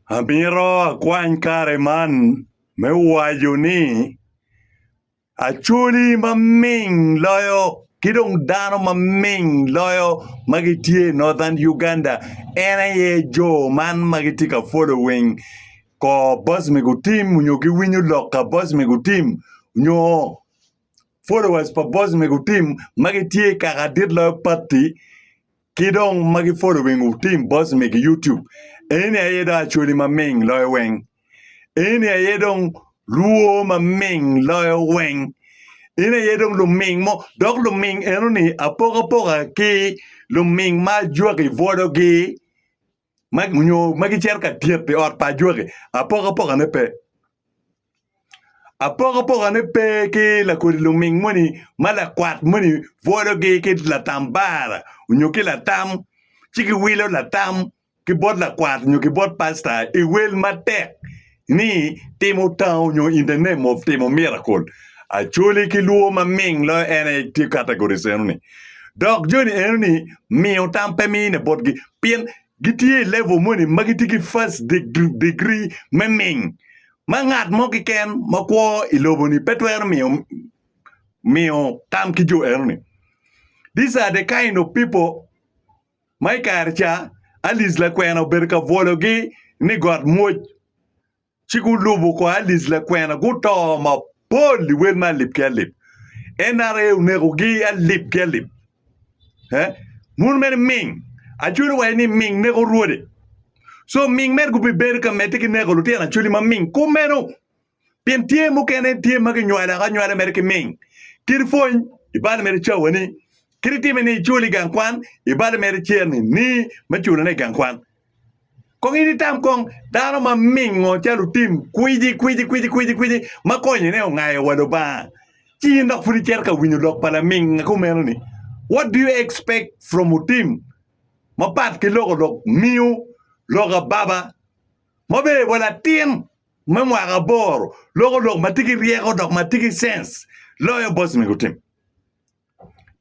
Amito akwany kare man me waco ni Acholi maming loyo ki dong dano maming loyo ma gitye i Northern Uganda en aye jo man ma gitye ka folowing kor boc me gutim nyo giwinyo lok pa boc me gutim nyo followers pa boc me gutim ma gitye i kaka dit loyo pati Ki dong ma gi following wu team boss me ki YouTube eni aye dong acholi ma ming loyo weng eni aye dong luo ma ming loyo weng in aye dong luming mo dok luming eno ni apoka poka ki luming ma ajwaki volo gi nyo ma gicito ka tyet i ot pa ajwaki, apokapokane pe. Apokapokane pe ki lakodi luming moni ma lakwat moni bwologi ki latambara nyo ki latam ci giwilo latam ki bot lakwat nyo ki bot pasta i wel matek. ni timo tango nyo in the name of timo miracle actually ki lwor ma ming loyo en aye tye categories enoni dok joni enoni miyo tam pe mine botgi pien gitye i level moni ma gitye ki first deg- degree me ming ma ngat mo kiken ma kwo i loboni pe twero miyo miyo tam ki jo enoni these are the kind of people ma i kare ca Alic lakwena obedo ka bwologi ni got mwoc, ci gulubo kor Alic lakwena guto mapol i wel me alip ki alip. NRA onekogi alip ki alip. Eh? Mun mene ming. Acholi waco ni ming neko rwode. So ming mere gubibedo ka medde ki neko lutino acholi ma ming kumeno. Pien tye mukene tye ma kinywalo aka nywalo mere ki ming, kit pwony i bal mere cawani, kit itime ni icul i gang kwan i bal mere cer-ni ni me culone i gang kwan. Kong in itam kong dano ma mingo ca lutim kwici kwici kwici kwici kwici ma konyone ongayo wa Lubanga, ci in dok pud icito ka winyo lok pa laminga kumeno-ni. What do you expect from otim mapat ki loko lok miu lok ababa ma obedo bwa latin? me mwaka aboro loko lok ma tye ki ryeko dok ma tye ki cens loyo boss mego tim.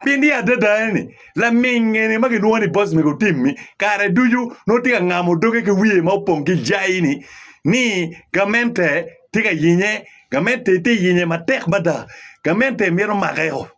Pien ni adada en ni laming eni ma kilwongo ni boss mego tim ni kare ducu nongo tye ka ngamo doge ki wiye ma opong ki jai ni ni gamente tye ka yenye gamente tye ka yenye matek mada gamente mito make o.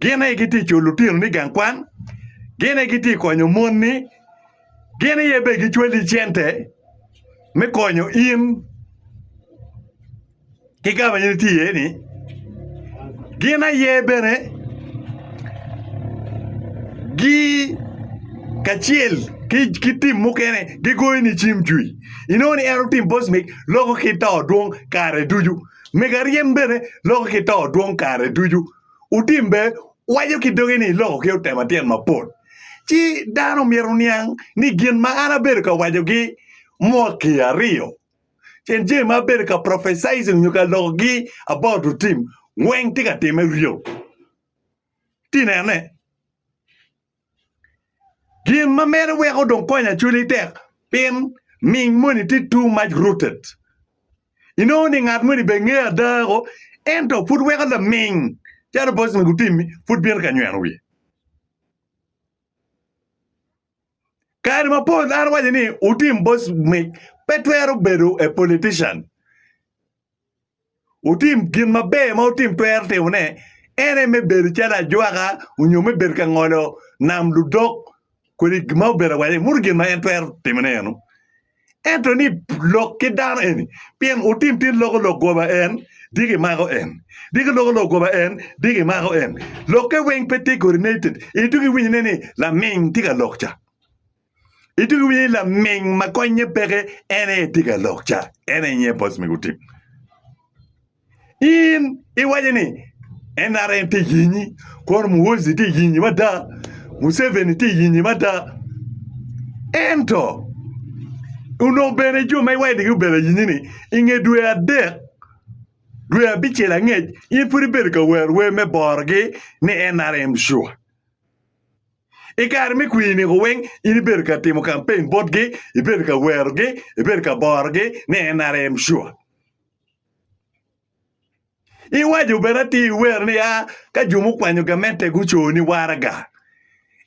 Gin aye gitye cul lutino ni gang kwan, gin aye gitye konyo mon ni, gin aye be gicwali cente me konyo in ki ka ma in itye iye ni, gin aye bene gi kacel ki tim mukene gigoyo ni cim cwi inongo ni en otim bosmik loko ki to dwong kare ducu mega ryem bene loko ki to dwong kare ducu. otimbe waco ki doge ni iloko ki otema tyen mapol. Ci dano myero oniang ni gin ma an abedo ka wacogi mwaki aryo cen jami ma abedo ka prophesizing nyo ka lokogi about to tim weng tye ka time ryo. Ti nene. Gin ma meno weko dong konya cwinyi tek pin ming moni tye too much rooted. Inongo ni ngat moni bene nge ada o ento pud weko laming calo Boston gutimi pud bino ka nyweno wiye. Kare mapol an awaco ni wutim bocmic pe twero bedo a politician. Wutim gin maber ma wutim twero timone, en aye me bedo calo ajwaka onyo me bedo ka ngolo nam ludok kodi gin ma obedo awaca ni muto gin ma en twero timone eno. Ento ni lok ki dano eni pien wutim tin loko lok goba en di gimako en, di giloko lok goba en di gimako en. Lokke weng pe tye coordinated, in dong iwinyo ine ni laming tye ka lok ca. Idugo iye laming ma konye peke en aye tye ka lok ca, en aye nyiye boss me gutim. In iwaco ni NRM tye yinyi, kor Muhoozi tye yinyi mada, Museveni tye yinyi mada. Ento onongo bene jo ma iwaco ni gubedo yinyi ni inge dwe adek dwe abicel angec in pud ibedo ka wer wer me borogi ni NRM sure. I kare me kwiri-ni, weng in ibedo ka timo kampen botgi, ibedo ka werogi, ibedo ka borogi ni NRM sure. Iwaco bene atir iwero ni a ka jo mukwanyo gamente guco ni waraga.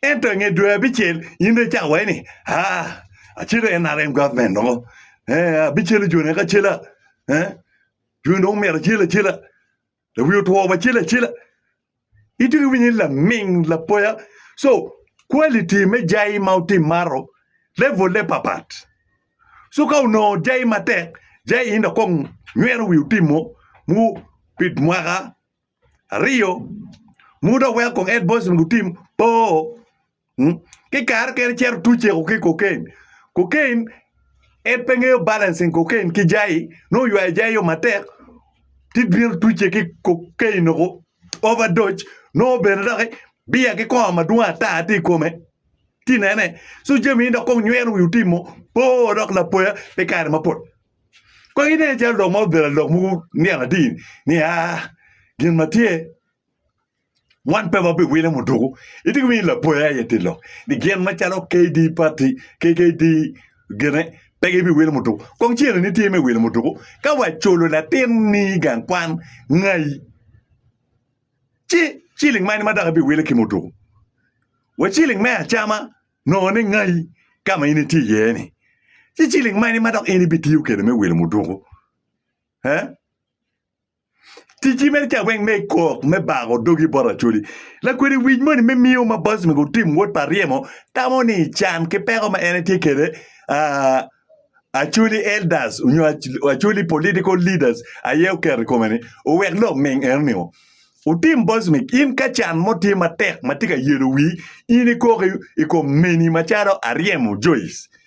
Ento i nge dwe abicel in dong icawa ni a acelo NRM government dong abicelo jone kacela. Joni dong omyero acel acela. lawi otwo wacel acela ito ki winyo ni laming lapoya so quality me jai ma utim maro level ne papat so ka onongo jai matek jai in dok kong nywero wi utimo mu pi mwaka aryo mu dok weko kong ed boys onongo gutim poo Ki kare kene cito tuc ceko ki kokain. Kokain en pe ngeyo balancing kokain ki jai nongo ywayo jai yo matek ci bino tucce ki kokain nongo overdose nongo bene doki biya ki kongo madwong ata tye i kome ci inene ci jami ni dok kong nyweno wi otimo boo dok lapoya pi kare mapol kong ine calo lok ma obedo lok mogo nino atir ni aa gin ma tye Wan pe wabiwilo muduku. Itye ki winyo lapoya aye tye lok ni gin macalo KD pati KKD gine pe gibiwilo muduku. Kong cene ni tye me wilo muduku ka waculo latin ni gang kwan ngai ci ciling mani ma dok ibiwilo ki muduku. Wa ciling me acama nongo ni ngai ka ma in itye iye ni. Ci ciling mani ma dok in ibitiyo kede me wilo muduku. He? Ticci mere ca weng me ikok me bako dogi bot Acholi. Lakwede wic moni me miyo ma boss me gutim wot pa ryemo tamo ni can ki peko ma en etye kede aa Acholi elders onyo Acholi political leaders aye oketo ikome ni owek lok ming eno ni otim boss me in ka can mo tye matek matye ka yelo wii in ikok ikom meni macalo Aryemo Joice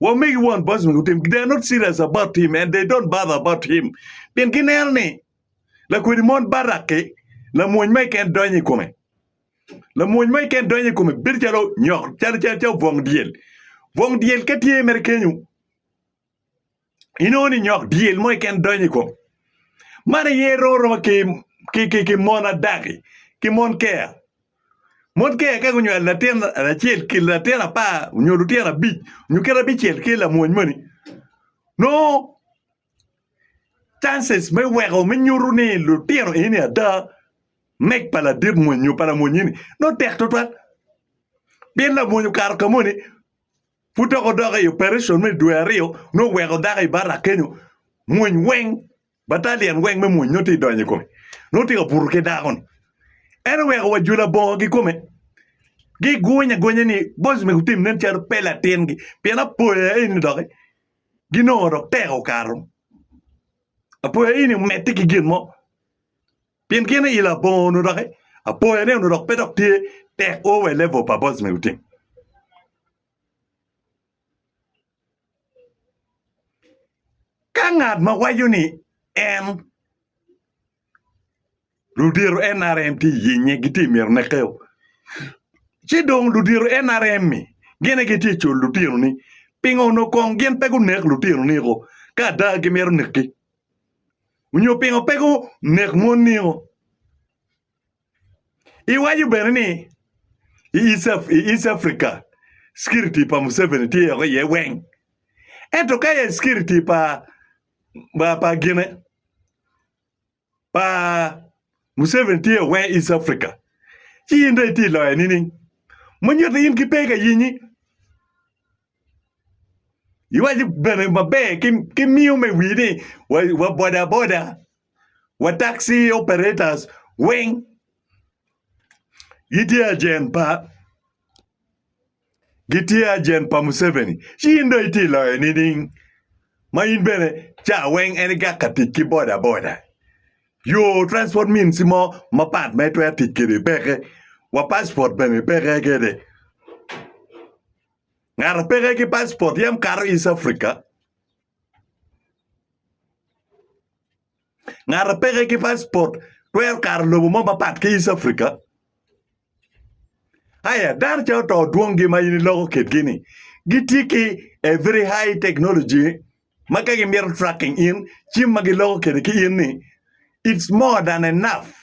Wa make it one person who tim. They're not serious about him and they don't bother about him. Pien gineno ni lakwedi mon baraki lamwony ma iken donyo i kome. Lamwony ma iken donyo i kome bedo calo nyok calo calo calo bwong dyel. Bwong dyel ka tye mere kenyu inongo ni nyok dyel mo keken donyo i kom. Man aye romo roma ki, ki, ki, ki mon adaki, ki mon keya. Mon keya ka gunywalo latin acel ki latin apar nyo lutino abic nyo kit abicel ki lamwony moni, nongo chances me weko me nyuto ni lutino eni ada mek pa ladit mwony nyo pa lamwony eni nongo tek tutwal. Pien lamwony okato ka moni Pud dok odok i opereson me dwe aryo nongo oweko dako i barak kenyo mwony weng, batalian weng me mwony nongo tye ka donyo i kome. Nongo tye ka buto ki dako-ni. En oweko wa jo labongo kikome giguny agunya ni boss omego wutim nen calo pe latingi pien apoya eni dok ginongo dok tek okato. Apoya eni omedde ki gin mo. Pien gin i labongo onongo doki apoya ne onongo dok pe dok tye tek o wa i level pa boys me gutim. Ka ngat ma waco ni en ludito NRM tye yenye gitye myero nekeo. Ci dong ludito NRM mi gine gitye col lutino ni pingo onongo kong gin pe gunek lutino ni ko ka ada gimito neki. Onyo pingo pe gu nek mon nio? I waco bene ni i East Africa security pa Museveni tye oko iye weng, ento ka aye security pa pa gine pa Museveni tye oko weng East Africa ci in dong itye iloyo nining? Manyuto in ki pe ka yenyi. Iwaco bene maber ki miyo me wii ni wa boda boda wa taxi operators weng gitye ajent pa gitye ajent pa Museveni ci in dong itye iloyo nining ma in bene ca weng en igak ka tic ki boda boda yo transport means mo mapat ma itwero tic kwede peke wa passport bene peke kede. Ngato peke ki passport yam kato East Africa. Ngato peke ki passport twero kato lobo mo mapat ki East Africa. Aya dano ca oto dwongi ma in iloko kitgi ni gitye ki a very high technology ma ka gimito tracking in, cim ma giloko kede ki in ni it's more than enough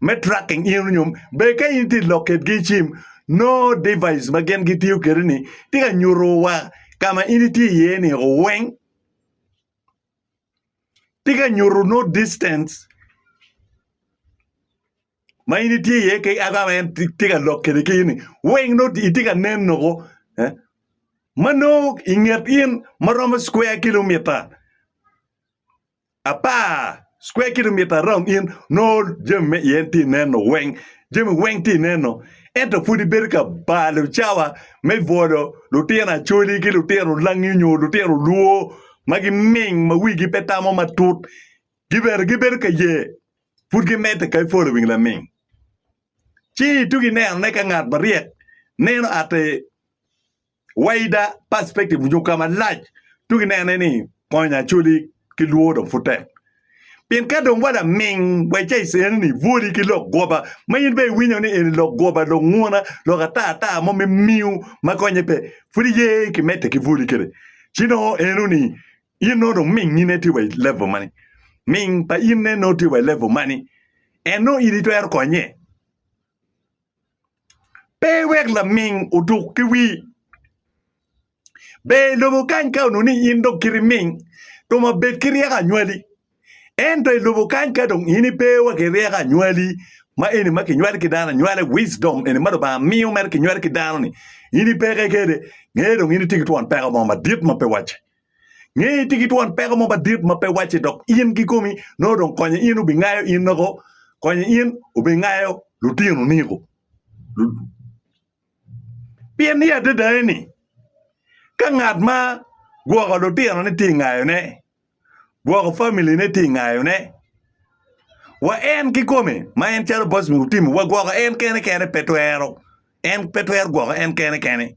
me tracking in onyo be ka in ti lok kedgi i cim no device ma gin gitiyo kede ni ti ka nyuto wa ka ma in iti iye ni weng ti ka nyuto no distance ma in itye iye kec ata ma en tye ka lok kede kec-ni weng nongo itye ka nen noko eh, ma nongo i nget in ma romo square kilomita apar square kilomita around in nongo jami me iye tye ka neno weng jami weng tye ka neno ento pud ibedo ka balo cawa me bwolo lutino acholi ki lutino langi nyo lutino lwor ma giming ma wigi pe tamo matut Gibedo gibedo ka ye, pud gimedde ka iporo i wing laming. Ci itugo inenone ka ngat maryek neno ate wider perspective onyo ka malac tugo inenone ni konyo acoli ki lwor dong pud tek. Pien ka dong wa laming wa ica ic eno ni ibwoli ki lok goba ma in be iwinyo ni eni lok goba, lok nguna, lok ata ata mo me miu ma konye pe, pud iye kimedde ki bwoli kede. Ci nongo eno ni In nongo dong mingine tye wa i level mani? Ming pa in ne nongo tye wa i level mani? En nongo in itwero konye? Pe iwek laming otuk ki wii. Ber i lobo kany ka onongo ni in dong kiti ming dong wa bed ki ryeko anywali. Ento i lobo kany ka dong in ipe wa ki ryeko anywali ma eni ma kinywali ki dano anywali, wisdom eni ma Lubanga miyo mere kinywali ki dano-ni, in ipe ke kede, nge dong in itye ki twon peko mo madit ma pe wacce. Nge ni tye ki twon peko mo madit ma pe wacce dok in kikomi nongo dong konye in obingayo in noko konye in obingayo lutino niko. Pien ni adada ni ka ngat ma gwoko lutino ne tye ngayone, gwoko family ne tye ngayone. Wa en kikome ma en calo boss me utimo wa gwoko en kene kene pe twero en pe twero gwoko en kene kene.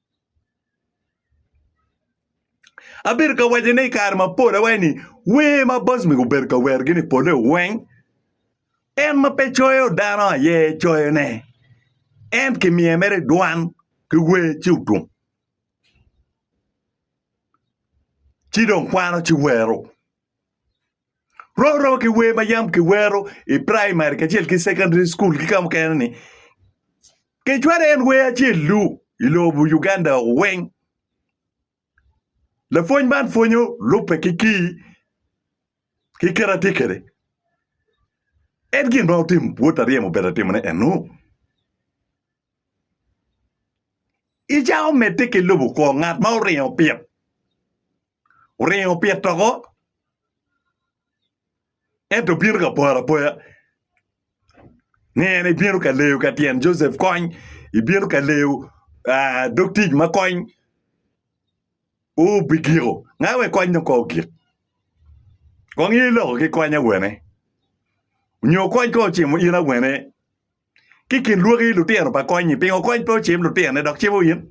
Abedo ka waco ne i kare mapol awaco ni wer ma Bosmy obedo ka wer gini pole weng en ma pe coyo dano aye coyo ne en ki miye mere dwan ki wer ci otum ci dong kwano ci wero. Rwom rwoma ki wer ma yam kiwero i praimari kacel ki sekondari cukul ki ka mukene ni kecwalo en wer acel-lu i lobo Uganda weng. Lapwony man pwonyo lubbe ki kii ki kite ma tye kwede. En gin ma otimo bot aryemo obedo ka timone enu. Icako medde ki lubo kwongo ngat ma oringo pit. oringo pit toko, ento bino ka poro apoya. Ngene ibino ka leyo ka tyen Joseph Kony, ibino ka leyo aa dog tic ma Kony obigiko. Ngat wek Kony dong kong ogik? Kong in iloko ki Kony awene? Nyo Kony kong ocimo in awene ki kin lwaki lutino pa kony-nyi pingo kony pe ocim lutinone dok cimo in?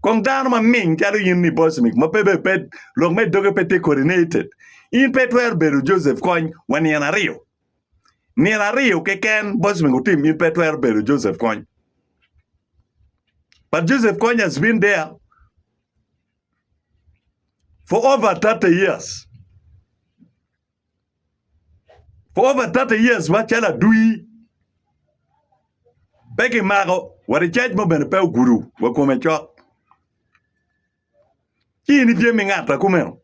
Kong dano ma ming calo in ni Bosmik ma pe be pe lok me doge pe tye coordinated, in pe itwero bedo Joseph kony wa nino aryo. Nino aryo keken Bosmik otim in pe itwero bedo Joseph kony. But Joseph kony has been there for over 30 years. For over thirty years macalo adwir pe kimako wa i caj mo bene pe ogudo wa kome cok ci in itye me ngata kumeno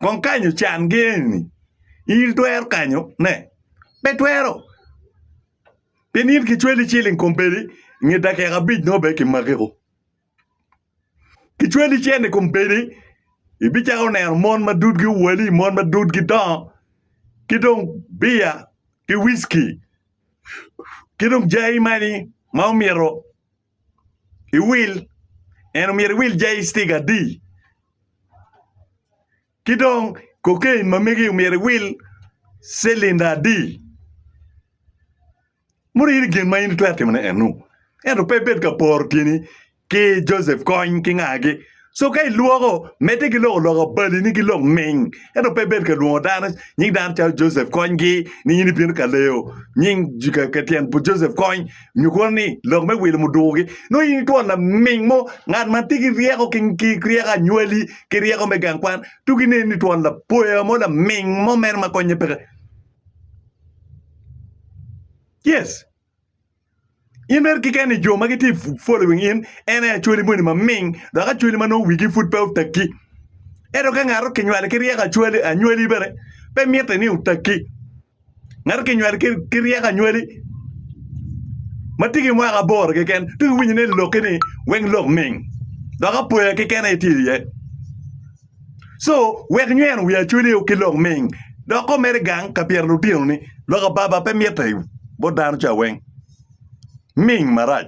kong kanyo can gi eni in itwero kanyo ne pe itwero pien in kicweli ciling kombeddi nge dakika abic nongo bene kimaki o. Kicweli icen i kombeddi ibicako neno mon ma dudgi owale, mon ma dudgi dongo ki dong biya ki wiski ki dong jayi magi ma omyero iwil eni omyero iwil jayi citika adi ki dong koken ma megi omyero iwil cilinda adi. Mot in i gin ma in itwero timone enu. Ento pe ibed ka poro tyeni ki Joseph kony ki ngagi. Co ka ilwoko, medde ki loko loka balini ki lok ming. Ento pe ibed ka lwongo dano nying dano calo Joseph konygi ni in ibino ka leyo nying ka tyen pu Joseph kony nyo kono ni lok me wilo mudukugi. Nongo in itwon laming mo, ngat ma tye ki ryeko ki ryeko anywali ki ryeko me gang kwan. Tuk inen ni itwon lapoya mo laming mo mere ma konye peke. Yes, in mere kikeni jo ma gitye ka following in en aye achwali moni maming dok achwali ma nongo wigi pud pe otegi. Ento ka ngat okinywali ki ryeko achwali anywali bene pe mitte ni otegi. Ngat okinywali ki ryeko anywali ma tye ki mwaka aboro keken dong iwinyo ni loki ni weng lok ming dok apoya keken aye tye iye. Co wek nyweno wi acwele o ki lok ming dok ko mere gang ka pyero lutino ni lok ababa pe mitte i bot dano ca weng ming marac.